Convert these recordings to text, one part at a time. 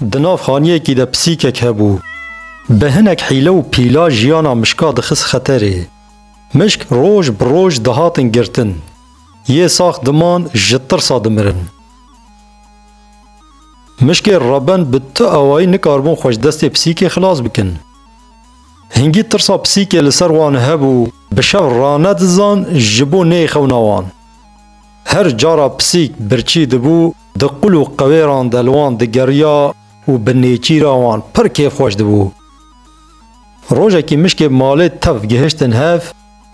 Di nav xaniyekî de pisîkek hebû. Bi hinek hîle û pîla jiyana mişka dixist xeterê. Mişk roj bi roj dihatin girtin. Yê sax diman ji tirsa dimirin. Mişkê reben bi tu awayî nikaribûn xwe ji destê pisîkê xilas bikin. Hingî tirsa pisîkê li ser wan hebû, bi şev ranedizan ji bo neyxewna wan. Her cara pisîk birçî dibû, di qul û qewêran de li wan digeriya û bi nêçîra wan pir kêfxweş dibû. Rojekî mişkê malê tev gihiştin hev,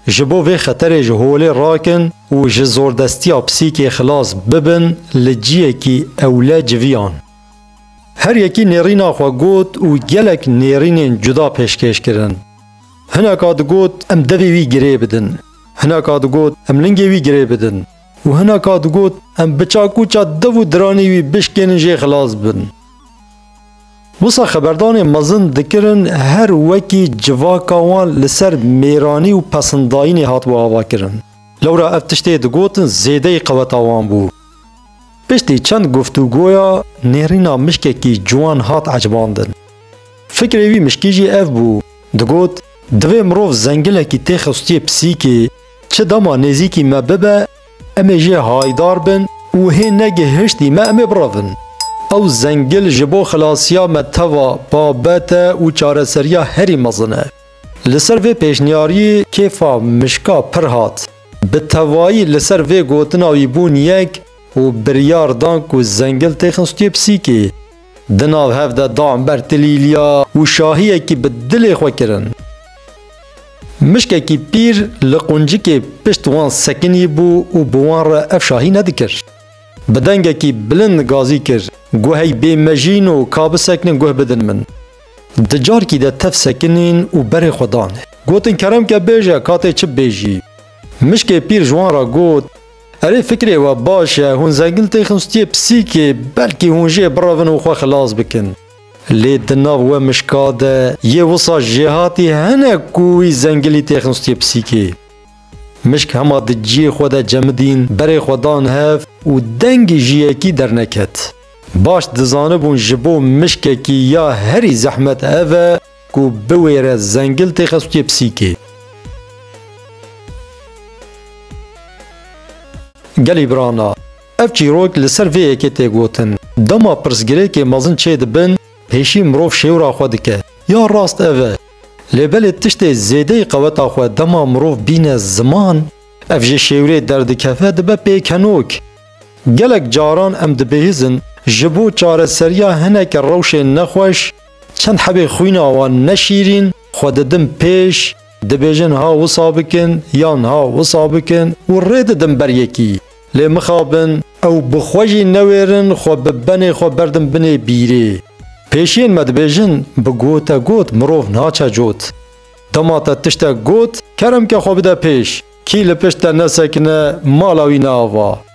ji bo vê xeterê ji holê rakin û ji zordestiya pisîkê xilas bibin li ciyekî ewle civiyan. Her yekî nêrîna xwe got û gelek nêrînên cuda pêşkêş kirin. Hineka digot em devê wî girê bidin. Hinaka digot em lingê wî girê bidin û hinaka digot em bi çakûça dev û diranê wî bişkênin jê xilas bin. Wisa xeberdanê mezin dikirin her wekî civaka wan li ser mêranî û pesindayînê hatibû avakirin. Lewra ev tiştê digotin zêdeyî qeweta wan bû. Piştî çend guftûgoya nêrîna mişkekî ciwan hat ecibandin. Fikrê wî mişkî jî ev bû, digot, Divê mirov zengilekî tê xistiyê pisîkê, çi dema nêzîkî me bibe, em ê jê haydar bin û hê ne gihiştî me em ê birevin. Ew zengil ji bo xilasiya me teva babet e û çareseriya herî mezin e. Li ser vê pêşniyariyê kêfa mişka pir hat. Bi tevayî li ser vê gotina wî bûn yek û biryar dan ku zengil tê xistiyê pisîkê. Di nav hev de dan ber tilîlya û şahiyekî bi dilê xwe kirin. Mişkekî pîr li quncikê pişt wan sekinî bû û bi wan re ev şahî nedikir. Bi dengekî bilind gazî kir, Guh ey bê mejîn û ka biseknin guh bidin min. Di carkî de tev sekinîn û berê xwe danê. Gotin kerem ke bêje, katê çi bibêjî. Mişkê pîr ji wan re got. Erê fikrê we baş e, hûn zengin tê xinstiyê pisîkê, belkî hûn jê birevin û xwe xilas bikin. Lê di nav we mişka de yê wisa jêhatî hene ku wî zengilî tê xinstiyê pisîkê. Mişk hema di ciyê xwe de cemidîn, berê xwe dan hev û dengê jiyekî derneket. Baş dizanibûn ji bo mişkekî ya herî zehmet ev e Ku biwêre zengil tê xestûyê pisîkê. Gelî birana, ev çîrok li ser vê yekê tê gotin. Dema pirsgirêkê mezin çê dibin, pêşî mirov şêwra xwe dike, ya rast ev e. Lê belê tiştê zêdeyî qeweta xwe dema mirov bîne ziman, ev ji şêwrê derdikeve dibe pêkenok. Gelek caran em dibihîzin ji bo çareseriya hineke rewşên nexweş, Çend hebê xwîna wan ne şîrîn xwe didim pêş, dibêjin ha wisa bikin yan ha wisa bikin û rê didim ber yekî. Lê mixabin ew bi xwe jî newêrin xwe bi benê xwe berdin binê bîrê. Pêşiyên me dibêjin bi gote got mirov naçe cot. Dema te tiştek got kerem ke xwe bide pêş, kî li pişt te nesekine mala wî ne ava.